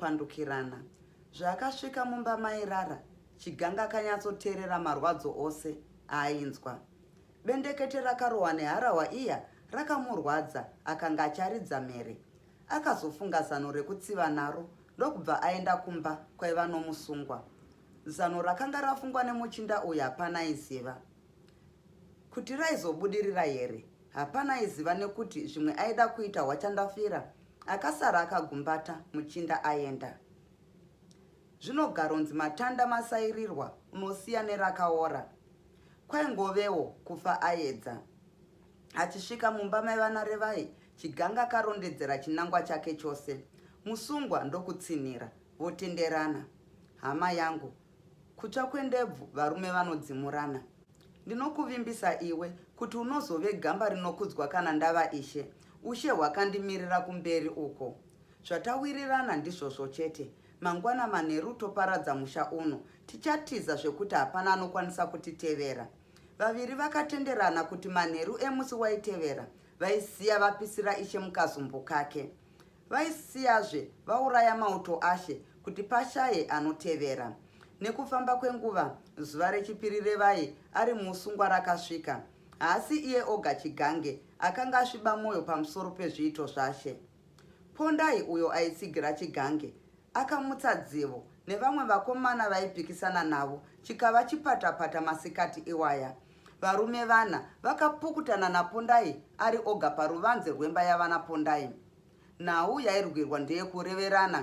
kupandukirana zvaakasvika mumba mairara chiganga akanyatsoteerera marwadzo ose aainzwa Bendekete rakarohwa neharahwa iya rakamurwadza akanga acharidza mhere. Akazofunga zano rekutsiva naro ndokubva aenda kumba kwaiva nomusungwa. Zano rakanga rafungwa nemuchinda uyu hapana aiziva kuti raizobudirira here. Hapana aiziva nekuti zvimwe aida kuita hwachandafira. Akasara akagumbata muchinda aenda. Zvinogaronzi matanda masairirwa unosiya nerakaora. Kwaingovewo kufa ayedza. Achisvika mumba maivana Revai, Chiganga akarondedzera chinangwa chake chose. Musungwa ndokutsinhira, votenderana. Hama yangu, kutsva kwendebvu varume vanodzimurana. Ndinokuvimbisa iwe kuti unozove gamba rinokudzwa kana ndava ishe. Ushe hwakandimirira kumberi uko. Zvatawirirana ndizvozvo chete, Mangwana manheru toparadza musha uno, tichatiza zvekuti hapana anokwanisa kutitevera. Vaviri vakatenderana kuti manheru emusi waitevera vaisiya vapisira ishe mukazumbu kake. Vaisiyazve vauraya mauto ashe kuti pashaye anotevera. Nekufamba kwenguva, zuva rechipiri revai ari muusungwa rakasvika. Haasi iye oga Chigange akanga asviba mwoyo pamusoro pezviito zvashe. Pondai uyo aitsigira chigange akamutsa dzivo nevamwe vakomana vaipikisana navo chikava chipatapata masikati iwaya. Varume vana vakapukutana naPondai ari oga paruvanze rwemba yavana Pondai. Nhau yairwirwa ndeyekureverana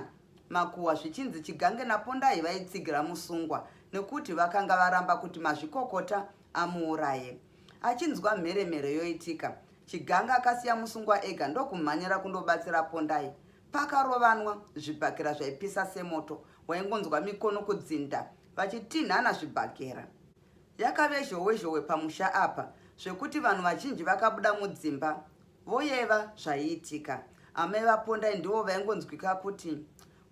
makuhwa zvichinzi Chigange naPondai vaitsigira musungwa nekuti vakanga varamba kuti mazvikokota amuuraye. Achinzwa mheremhere yoitika, Chiganga akasiya musungwa ega ndokumhanyira kundobatsira Pondai. Pakarovanwa, zvibhakera zvaipisa semoto, waingonzwa mikono kudzinda vachitinhana zvibhakera. Yakave zhowe zhowe pamusha apa zvekuti vanhu vazhinji vakabuda mudzimba voyeva zvaiitika. Amai vaPondai ndivo vaingonzwika kuti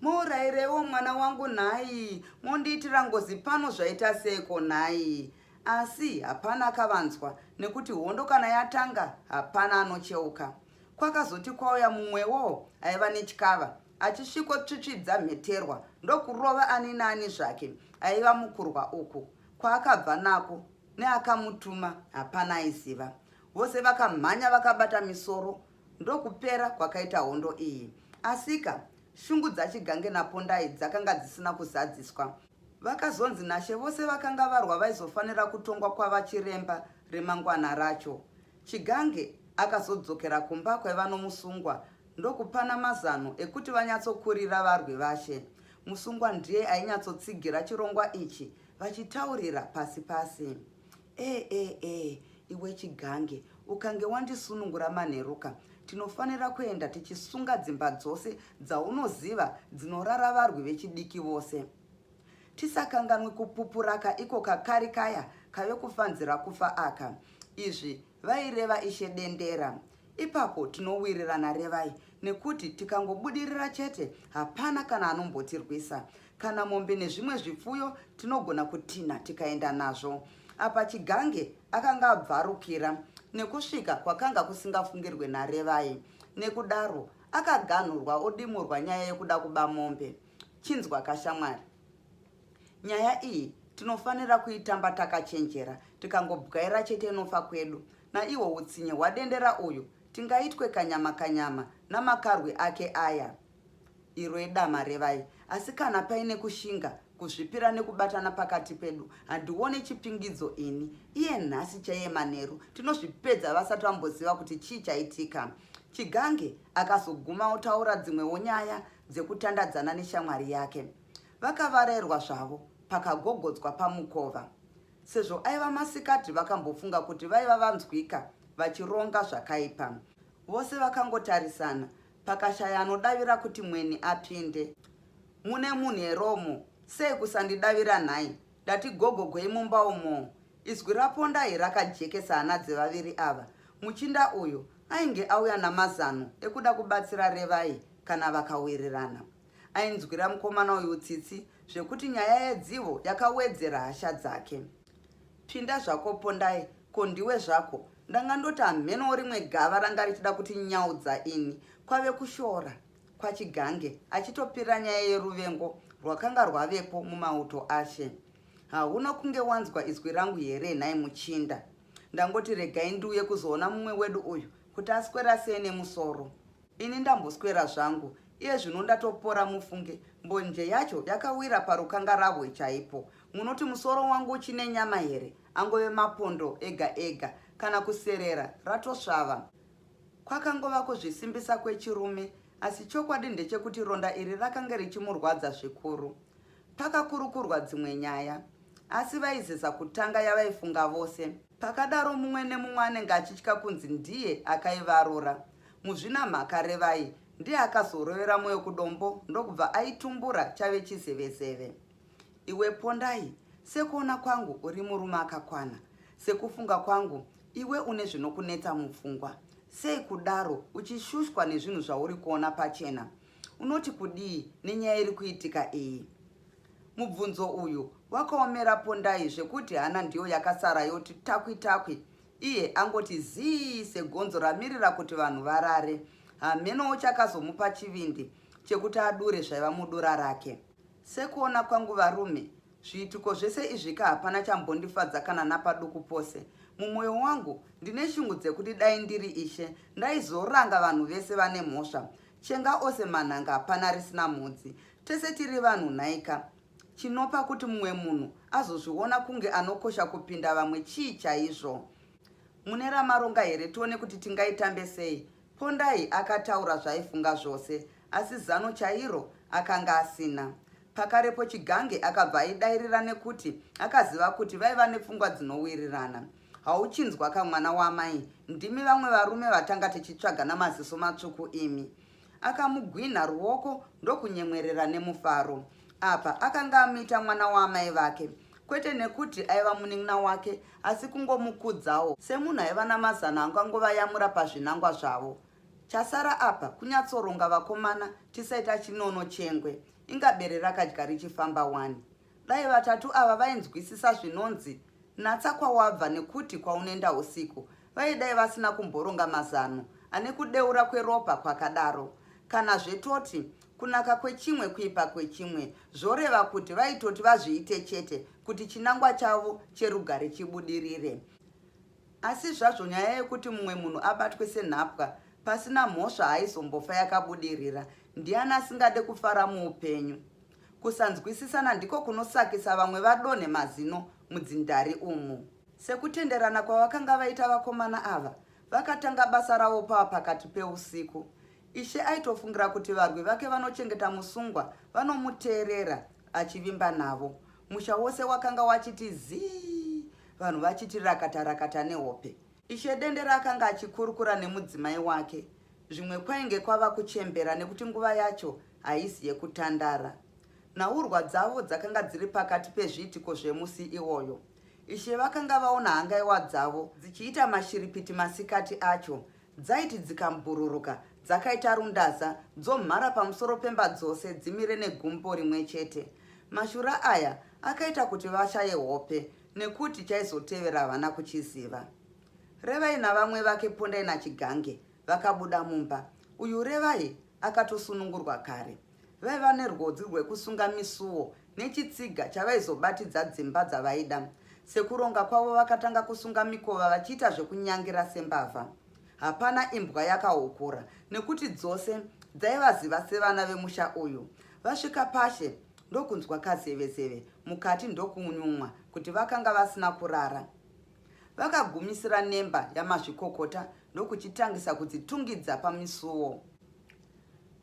mourairewo mwana wangu nhai, mondiitira ngozi pano zvaita seiko nhai? Asi hapana akavanzwa nekuti hondo kana yatanga hapana anocheuka. Kwakazoti kwauya mumwewo aiva netyava achisviko tsvitsvidza mheterwa ndokurova ani naani zvake aiva mukurwa uku. Kwaakabva nako neakamutuma hapana aiziva. Vose vakamhanya vakabata misoro ndokupera kwakaita hondo iyi. Asika shungu dzaChigange naPondai dzakanga dzisina kuzadziswa. Vakazonzi nashe vose vakanga varwa vaizofanira kutongwa kwava chiremba remangwana racho. Chigange akazodzokera kumba kwaiva nomusungwa ndokupana mazano ekuti vanyatsokurira varwi vashe. Musungwa ndiye ainyatsotsigira chirongwa ichi vachitaurira pasi pasi. Ee ee ee iwe chigange ukange wandisunungura manheruka tinofanira kuenda tichisunga dzimba dzose dzaunoziva dzinorara varwi vechidiki vose tisakanganwi kupupuraka iko kakari kaya kave kufanzira kufa aka izvi vaireva ishe dendera Dendera. Ipapo tinowirirana Revai nekuti tikangobudirira chete hapana kana anombotirwisa. Kana mombe nezvimwe zvipfuyo tinogona kutinha tikaenda nazvo. Apa Chigange akanga abvarukira nekusvika kwakanga kusingafungirwe naRevai. Nekudaro akaganhurwa odimurwa nyaya yekuda kuba mombe. Chinzwa kashamwari. Nyaya iyi tinofanira kuitamba takachenjera, tikangobwaira chete inofa kwedu. Naihwo utsinye hwadendera uyu, tingaitwe kanyama kanyama namakarwi ake aya. Irwe dama revai, asi kana paine kushinga, kuzvipira nekubatana pakati pedu, handione chipingidzo ini. Iye nhasi chaiye manheru, tinozvipedza vasati vamboziva kuti chii chaitika. Chigange akazoguma otaura dzimwewo nyaya dzekutandadzana neshamwari yake. Vakavarairwa zvavo pakagogodzwa pamukova. Sezvo aiva masikati vakambofunga kuti vaiva vanzwika vachironga zvakaipa. Vose vakangotarisana pakashaya anodavira kuti mweni apinde. Mune munhu here umo? Sei kusandidavira nhai? Ndati gogogwei mumba umo? Izwi raPondai rakajekesa hana dzevaviri ava. Muchinda uyu ainge auya namazano ekuda kubatsira Revai kana vakawirirana. Ainzwira mukomana uyu tsitsi zvekuti nyaya yedzivo yakawedzera hasha dzake. Pinda zvako Pondai, ko ndiwe zvako? Ndanga ndoti hamhenowo rimwe gava ranga richida kuti nyaudza ini. Kwave kushora kwaChigange achitopira nyaya yeruvengo rwakanga rwavepo mumauto ashe. Hauna kunge wanzwa izwi rangu here nhai muchinda? Ndangoti regai ndiuye kuzoona mumwe wedu uyu kuti aswera sei nemusoro. Ini ndamboswera zvangu iye zvino ndatopora mufunge mbonje yacho yakawira parukangarahwe chaipo munoti musoro wangu uchine nyama here angove mapondo ega ega kana kuserera ratosvava kwakangova kuzvisimbisa kwechirume asi chokwadi ndechekuti ronda iri rakange richimurwadza zvikuru pakakurukurwa dzimwe nyaya asi vaizeza kutanga yavaifunga vose Pakadaro mumwe nemumwe anenge achitya kunzi ndiye akaivarora. Muzvinamhaka Revai ndiye akazorovera moyo kudombo ndokubva aitumbura chave chizevezeve. Iwe Pondai, sekuona kwangu uri murume akakwana. Sekufunga kwangu iwe une zvinokunetsa mupfungwa. Sei kudaro uchishushwa nezvinhu zvauri kuona pachena? Unoti kudii nenyaya iri kuitika iyi? Mubvunzo uyu wakaomera Pondai zvekuti hana ndiyo yakasara yoti takwi takwi iye angoti zii segonzo ramirira kuti vanhu varare. Hamenowo chakazomupa chivindi chekuti adure zvaiva mudura rake. Sekuona kwangu varume, zviitiko zvese izvika hapana chambondifadza kana napaduku pose. Mumwoyo wangu ndine shungu dzekuti dai ndiri ishe ndaizoranga vanhu vese vane mhosva Chenga ose manhanga hapana risina mhodzi. Tese tiri vanhu nhaika. Chinopa kuti mumwe munhu azozviona kunge anokosha kupinda vamwe chii chaizvo? Mune ramaronga here tione kuti tingaitambe sei? Pondai akataura zvaaifunga zvose asi zano chairo akanga asina. Pakarepo Chigange akabva aidairira nekuti akaziva kuti vaiva nepfungwa dzinowirirana. Hauchinzwa ka mwana wamai ndimi vamwe varume vatanga tichitsvaga namaziso matsvuku imi. Akamugwinha ruoko ndokunyemwerera nemufaro. Apa akanga amuita mwana waamai vake kwete nekuti aiva munin'ina wake asi kungomukudzawo semunhu aiva namazano angangovayamura pazvinangwa zvavo. Chasara apa kunyatsoronga vakomana tisaita chinono chengwe inga bere rakadya richifamba wani. Dai vatatu ava vainzwisisa zvinonzi natsa kwawabva nekuti kwaunoenda husiku vaye dai vasina kumboronga mazano ane kudeura kweropa kwakadaro. Kana zve toti kunaka kwechimwe kuipa kwechimwe zvoreva kuti vaitoti vazviite chete kuti chinangwa chavo cherugare chibudirire. Asi zvazvo nyaya yekuti mumwe munhu abatwe senhapwa pasina mhosva haizombofa yakabudirira. Ndiani asingade kufara muupenyu? Kusanzwisisana ndiko kunosakisa vamwe vadonhe mazino mudzindari umu. Sekutenderana kwavakanga vaita vakomana ava, vakatanga basa ravo pava pakati peusiku. Ishe aitofungira kuti varwi vake vanochengeta musungwa vanomuteerera achivimba navo. Musha wose wakanga wachiti zii, vanhu vachiti rakata rakata nehope. Ishe Dendera akanga achikurukura nemudzimai wake. Zvimwe kwainge kwava kuchembera nekuti nguva yacho haisi yekutandara. Nhaurwa dzavo dzakanga dziri pakati pezviitiko zvemusi iwoyo. Ishe vakanga vaona hangaiwa dzavo dzichiita mashiripiti masikati acho Dzaiti dzikambhururuka dzakaita rundaza dzomhara pamusoro pemba dzose dzimire negumbo rimwe chete. Mashura aya akaita kuti vashaye hope nekuti chaizotevera havana kuchiziva. Revai navamwe vake Pondai naChigange vakabuda mumba. Uyu Revai akatosunungurwa kare. Vaiva nerwodzi rwekusunga misuwo nechitsiga chavaizobatidza dzimba dzavaida. Sekuronga kwavo vakatanga kusunga mikova vachiita zvekunyangira sembavha. Hapana imbwa yakahukura nekuti dzose dzaivaziva sevana vemusha uyu. Vasvika pashe ndokunzwa kazevezeve mukati ndokunyumwa kuti vakanga vasina kurara. Vakagumisira nemba yamazvikokota ndokuchitangisa kudzitungidza pamisuwo.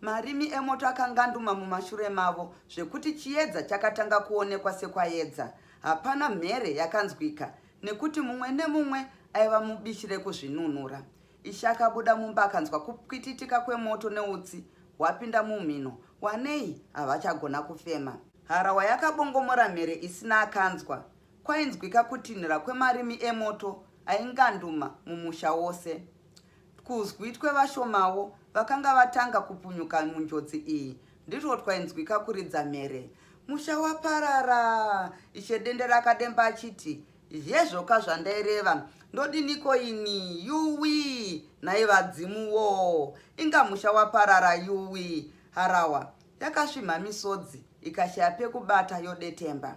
Marimi emoto akanganduma mumashure mavo zvekuti chiedza chakatanga kuonekwa sekwaedza. Hapana mhere yakanzwika nekuti mumwe nemumwe aiva mubishi rekuzvinunura. Ishe akabuda mumba akanzwa kupwititika kwemoto neutsi hwapinda mumhino. Wanei havachagona kufema. Harawa yakabongomora mhere isina akanzwa. Kwainzwika kutinhira kwemarimi emoto ainganduma mumusha wose. Kuzwi twevashomawo vakanga vatanga kupunyuka munjodzi iyi ndirwo twainzwika kuridza mhere. Musha waparara! Ishe Dendera akademba achiti, Hezvoka zvandaireva, ndodiniko ini? Yuwi! Nhai vadzimu wo! Inga musha waparara yuwi! Harawa yakasvimha misodzi ikashaya pekubata yodetemba.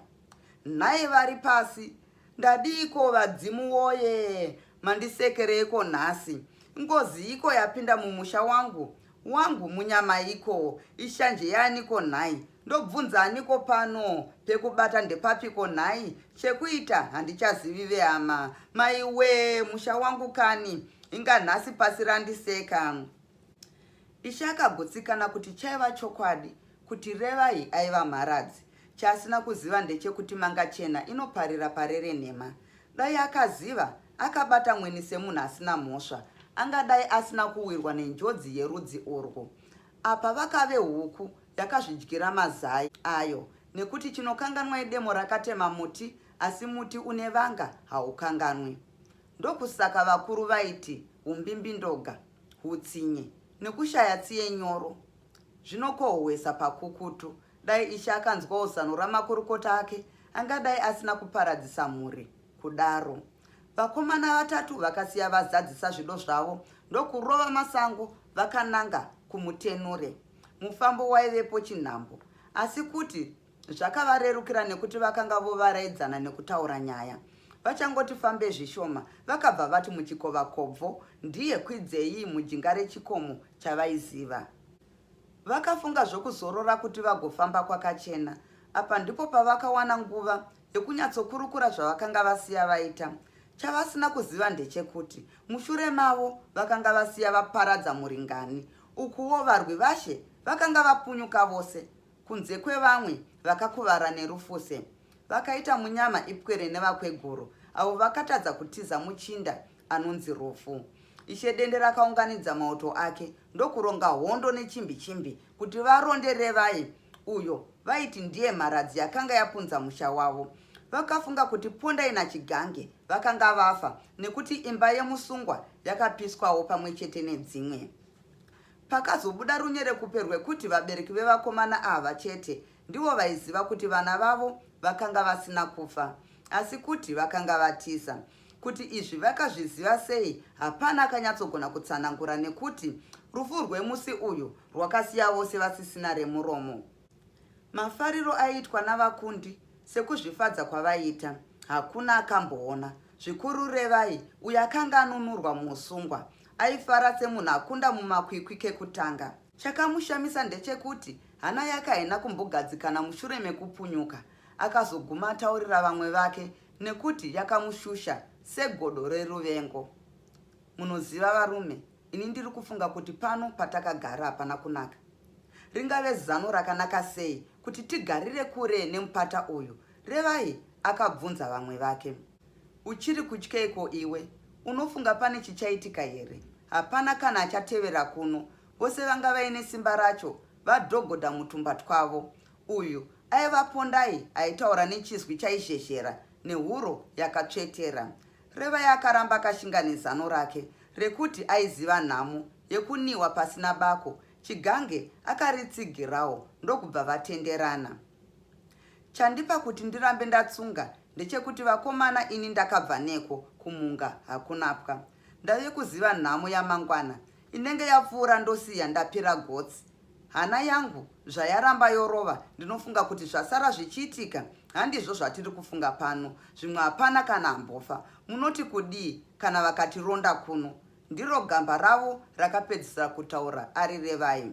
Nhai vari pasi Ndadiiko vadzimu woye mandisekereiko nhasi ngoziiko yapinda mumusha wangu wangu munyamaiko ishanje yaaniko nhai ndobvunza aniko pano pekubata ndepapiko nhai chekuita handichazivi vehama maiwee musha wangu kani inga nhasi pasi randiseka ishe akagutsikana kuti chaiva chokwadi Kuti Revai aiva mharadzi, chaasina kuziva ndechekuti Mangachena inoparira pare renhema. Dai akaziva, akabata Mweni semunhu asina mhosva, angadai asina kuwirwa nenjodzi yerudzi urwu. Apa vakave huku yakazvidyira mazai ayo nekuti chinokanganwa idemo rakatema muti asi muti une vanga haukanganwi. Ndokusaka vakuru vaiti humbimbindoga, hutsinye nekushaya tsiye nyoro Zvinokohwesa pakukutu. Dai Ishe akanzwawo zano ramakurukota ake, angadai asina kuparadzisa mhuri kudaro. Vakomana vatatu vakasiya vazadzisa zvido zvavo ndokurova masango vakananga kuMutenure. Mufambo waivepo chinhambo, asi kuti Zvakavarerukira nekuti vakanga vovaraidzana nekutaura nyaya. Vachangoti fambe zvishoma, vakabva vati muchikova kobvo ndiye kwidzei mujinga rechikomo chavaiziva. Vakafunga zvokuzorora kuti vagofamba kwakachena. Apa ndipo pavakawana nguva yekunyatsokurukura zvavakanga vasiya vaita. Chavasina kuziva ndechekuti mushure mavo vakanga vasiya vaparadza muringani. Ukuwo varwi vashe vakanga vapunyuka vose kunze kwevamwe vakakuvara nerufuse vakaita munyama ipwere nevakweguru avo vakatadza kutiza muchinda anonzi rufu ishe dende rakaunganidza mauto ake ndokuronga hondo nechimbi chimbi kuti varonde revai uyo vaiti ndiye mharadzi yakanga yapunza musha wavo vakafunga kuti pondai nachigange vakanga vafa nekuti imba yemusungwa yakapiswawo pamwe chete nedzimwe Pakazobuda runyerekupe rwekuti vabereki vevakomana ava chete ndivo vaiziva kuti vana vavo vakanga vasina kufa asi kuti vakanga vatiza. Kuti izvi vakazviziva sei hapana akanyatsogona kutsanangura nekuti rufu rwemusi uyu rwakasiya vose vasisina remuromo. Mafariro aiitwa navakundi sekuzvifadza kwavaiita hakuna akamboona, zvikuru Revai uyo akanga anunurwa muusungwa. Aifara semunhu akunda mumakwikwi kekutanga. Chakamushamisa ndechekuti hana yake haina kumbogadzikana mushure mekupunyuka akazoguma ataurira vamwe vake nekuti yakamushusha segodo reruvengo. Munoziva varume, Ini ndiri kufunga kuti pano patakagara hapana kunaka. Ringave zano rakanaka sei kuti tigarire kure nemupata uyu? Revai akabvunza vamwe vake. Uchiri kutyeiko iwe? Unofunga pane chichaitika here? Hapana kana achatevera kuno. Vose vanga vaine simba racho vadhogodha mutumba twavo. Uyu aiva Pondai aitaura nechizwi chaizhezhera nehuro yakatsvetera. Revai akaramba akashinga nezano rake rekuti aiziva nhamo yekuniwa pasina bako. Chigange akaritsigirawo ndokubva vatenderana. Chandipa kuti ndirambe ndatsunga ndechekuti vakomana ini ndakabva neko kumhunga hakunapwa. Ndave kuziva nhamo yamangwana inenge yapfuura ndosiya ndapera gotsi hana yangu zvayaramba yorova ndinofunga kuti zvasara zvichiitika handizvo zvatiri kufunga pano zvimwe hapana kana ambofa munoti kudii kana vakatironda kuno ndiro gamba ravo rakapedzisira kutaura ari revai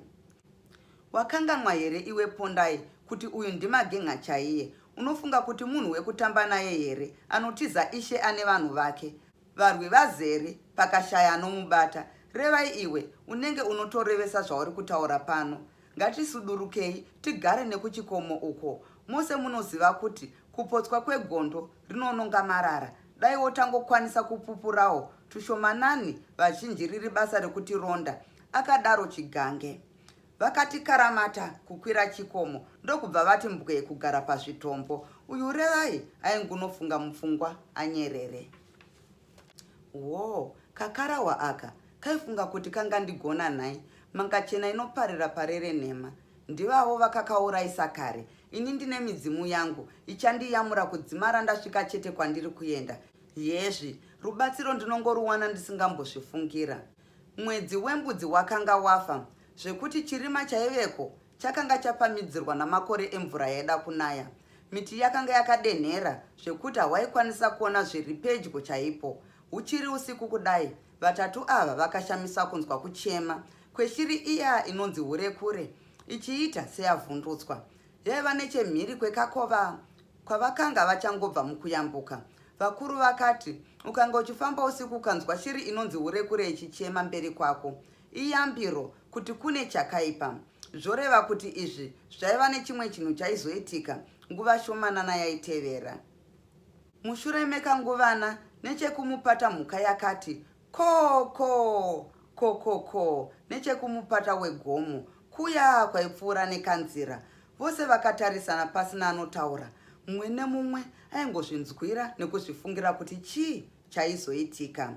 wakanganwa here iwe pondai kuti uyu ndimagenga chaiye unofunga kuti munhu wekutamba naye here anotiza ishe ane vanhu vake Varwi vazere, pakashaya anomubata. Revai iwe, unenge unotorevesa zvauri kutaura pano. Ngatisudurukei, tigare nekuchikomo uko. Mose munoziva kuti kupotswa kwegondo rinononga marara. Dai wotangokwanisa kupupurawo tushomanani vazhinji riri basa rekutironda, akadaro Chigange. Vakati karamata kukwira chikomo ndokubva vati mbwee kugara pazvitombo. Uyu Revai aingunofunga mupfungwa anyerere. Woo, kakarahwa aka kaifunga kuti kangandigona nhai? Mangachena inoparira parere nhema. Ndivavo vakakauraisa kare. Ini ndine midzimu yangu ichandiyamura kudzimara ndasvika chete kwandiri kuenda. Hezvi rubatsiro ndinongoruwana ndisingambozvifungira. Mwedzi wembudzi wakanga wafa zvekuti chirima chaiveko chakanga chapamhidzirwa namakore emvura yaida kunaya. Miti yakanga yakadenhera zvekuti hawaikwanisa kuona zviri pedyo chaipo. Huchiri usiku kudai, vatatu ava vakashamisa kunzwa kuchema kweshiri iya inonzi hurekure ichiita seyavhundutswa. Yaiva nechemhiri kwekakova Kwavakanga vachangobva mukuyambuka, vakuru vakati, Ukanga uchifamba usiku ukanzwa shiri inonzi hurekure ichichema mberi kwako. Iyambiro kuti kune chakaipa. Zvoreva kuti izvi zvaiva nechimwe chinhu chaizoitika nguva shomanana yaitevera. Mushure mekanguvana, nechekumupata mhuka yakati, Koo, koo, koo, koo, koo, nechekumupata wegomo, Kuya kwaipfuura nekanzira, vose vakatarisana pasina anotaura. Mumwe nemumwe aingozvinzwira nekuzvifungira kuti chii chaizoitika.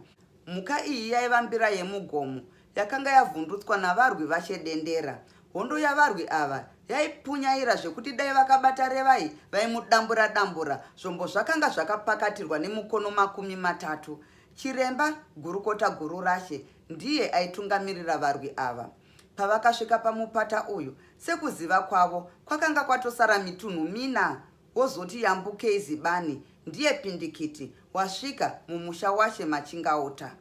Mhuka iyi yaiva mbira yemugomo yakanga yavhundutswa navarwi vashe dendera. Hondo yavarwi ava yaipunyaira zvekuti dai vakabata Revai vaimudambura dambura. Zvombo zvakanga zvakapakatirwa nemukono makumi matatu. Chiremba gurukota Gururashe ndiye aitungamirira varwi ava. Pavakasvika pamupata uyu, sekuziva kwavo, kwakanga kwatosara mitunhu mina wozoti yambukei zibani ndiye pindikiti wasvika mumusha washe Machingauta.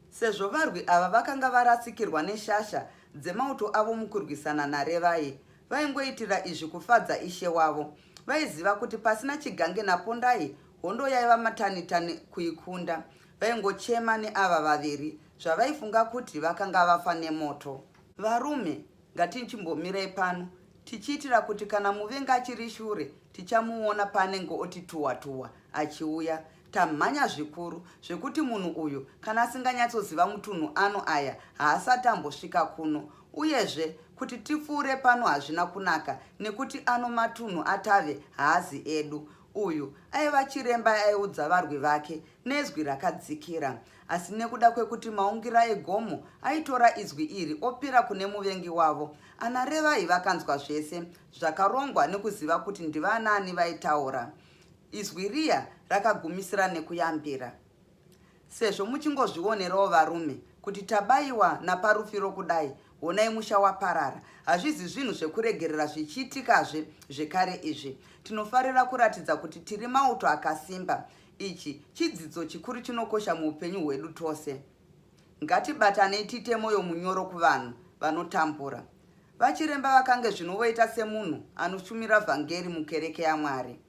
Sezvo varwi ava vakanga varasikirwa neshasha dzemauto avo mukurwisana naRevai, vaingoitira izvi kufadza ishe wavo. Vaiziva kuti pasina Chigange naPondai hondo yaiva matanitani kuikunda. Vaingochema neava vaviri Zvavaifunga kuti vakanga vafa nemoto. Varume, ngatinchimbomirai pano tichiitira kuti kana muvengi achiri shure tichamuona paanenge oti tuwa tuwa achiuya. Tamhanya zvikuru zvekuti munhu uyu kana asinganyatsoziva mutunhu ano aya haasati ambosvika kuno. Uyezve kuti tipfuure pano hazvina kunaka nekuti ano matunhu atave haazi edu. Uyu aiva chiremba aiudza varwi vake nezwi rakadzikira. Asi nekuda kwekuti maungira egomo aitora izwi iri opira kune muvengi wavo, ana Revai vakanzwa zvese zvakarongwa nekuziva kuti ndivanaani vaitaura. Izwi riya rakagumisira nekuyambira. Sezvo muchingozvionerawo varume kuti tabaiwa naparufiro kudai, honai musha waparara. Hazvizi zvinhu zvekuregerera zvichiitikazve zvekare izvi. Tinofarira kuratidza kuti tiri mauto akasimba. Ichi chidzidzo chikuru chinokosha muupenyu hwedu tose. Ngatibatanei tiite mwoyo munyoro kuvanhu vanotambura. Vachiremba vakange zvino voita semunhu anoshumira vhangeri mukereke yaMwari.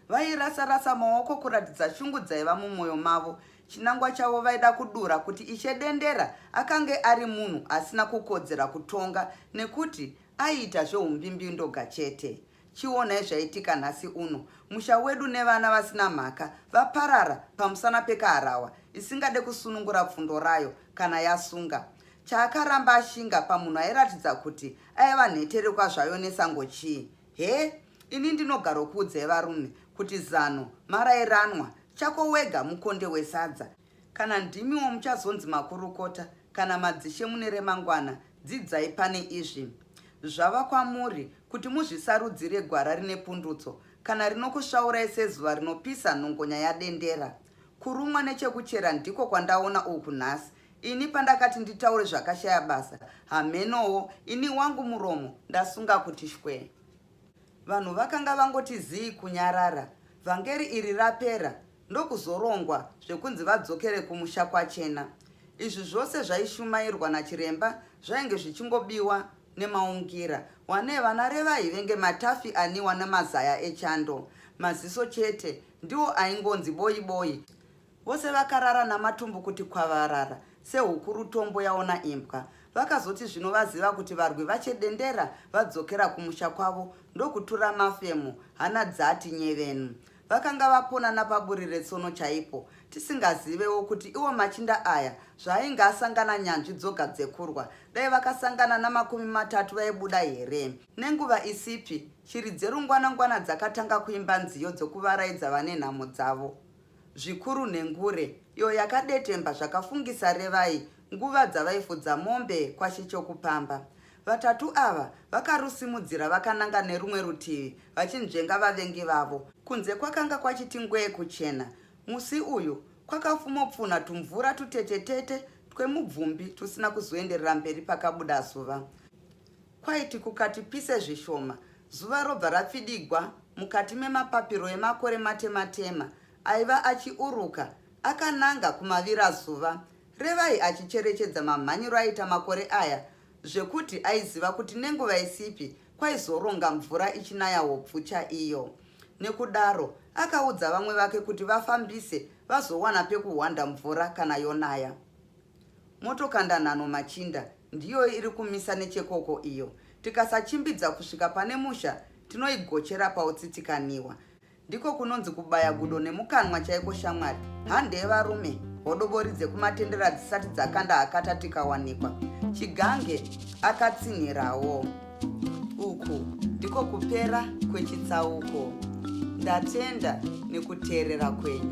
Vairasa-rasa maoko kuratidza shungu dzaiva mumwoyo mavo. Chinangwa chavo vaida kudura kuti Ishe Dendera akange ari munhu asina kukodzera kutonga nekuti aiita zveumbimbiundoga chete. Chionai zvaitika nhasi uno. Musha wedu nevana vasina mhaka vaparara pamusana pekaharahwa isingade kusunungura pfundo rayo kana yasunga. Chaakaramba ashinga pamunhu airatidza kuti aiva nheterekwa zvayo nesango chii? Hee? Ini ndinogarokuudzai varume kuti zano marairanwa chako wega mukonde wesadza. Kana ndimiwo muchazonzi makurukota kana madzishe mune remangwana, dzidzai pane izvi. Zvava kwamuri kuti muzvisarudzire gwara rine pundutso kana rinokusvaurai sezuva rinopisa nhongonya yadendera. Kurumwa nechekuchera ndiko kwandaona uku nhasi. Ini pandakati nditaure zvakashaya basa, hamhenowo ini wangu muromo ndasunga kuti shwee. Vanhu vakanga vangoti zii kunyarara. Vhangeri iri rapera, ndokuzorongwa zvekunzi vadzokere kumusha kwachena. Izvi zvose zvaishumairwa nachiremba zvainge zvichingobiwa nemaungira wane vana revai venge matafi aniwa nemazaya echando maziso chete ndiwo aingonzi boyi boyi vose vakarara namatumbu kuti kwavarara sehukuru tombo yaona imbwa vakazoti zvino vaziva kuti varwi vachedendera vadzokera kumusha kwavo ndokutura mafemo hana dzati nyevenu Vakanga vaponana paburi retsono chaipo, tisingazivewo kuti iwo machinda aya zvaainge asangana nyanzvi dzoga dzekurwa, dai vakasangana namakumi matatu vaibuda here? Nenguva isipi, shiri dzerungwanangwana dzakatanga kuimba nziyo dzokuvaraidza vane nhamo dzavo. Zvikuru nhengure, iyo yakadetemba zvakafungisa Revai nguva dzavaifudza mombe kwaShe Chokupamba. Vatatu ava vakarusimudzira vakananga nerumwe rutivi vachinzvenga vavengi vavo. Kunze kwakanga kwachiti ngwee kuchena. Musi uyu kwakafumopfunha tumvura tutetetete twemubvumbi tusina kuzoenderera mberi pakabuda zuva. Kwaiti kukati pise zvishoma, zuva robva rapfidigwa mukati memapapiro emakore matematema aiva achiuruka akananga kumavirazuva. Revai achicherechedza mamhanyiro aita makore aya zvekuti aiziva kuti nenguva isipi kwaizoronga mvura ichinaya hobvu chaiyo. Nekudaro, akaudza vamwe vake kuti vafambise vazowana pekuhwanda mvura kana yonaya. Motokandanhano Machinda ndiyo iri kumisa nechekoko iyo. Tikasachimbidza kusvika pane musha, tinoigochera pautsitsikanihwa. Ndiko kunonzi kubaya gudo nemukanwa chaiko shamwari. Hande yevarume, hodobori dzekumatendera dzisati dzakanda hakata tikawanikwa. Chigange akatsinhirawo. Uku ndiko kupera kwechitsauko. Ndatenda nekuteerera kwenyu.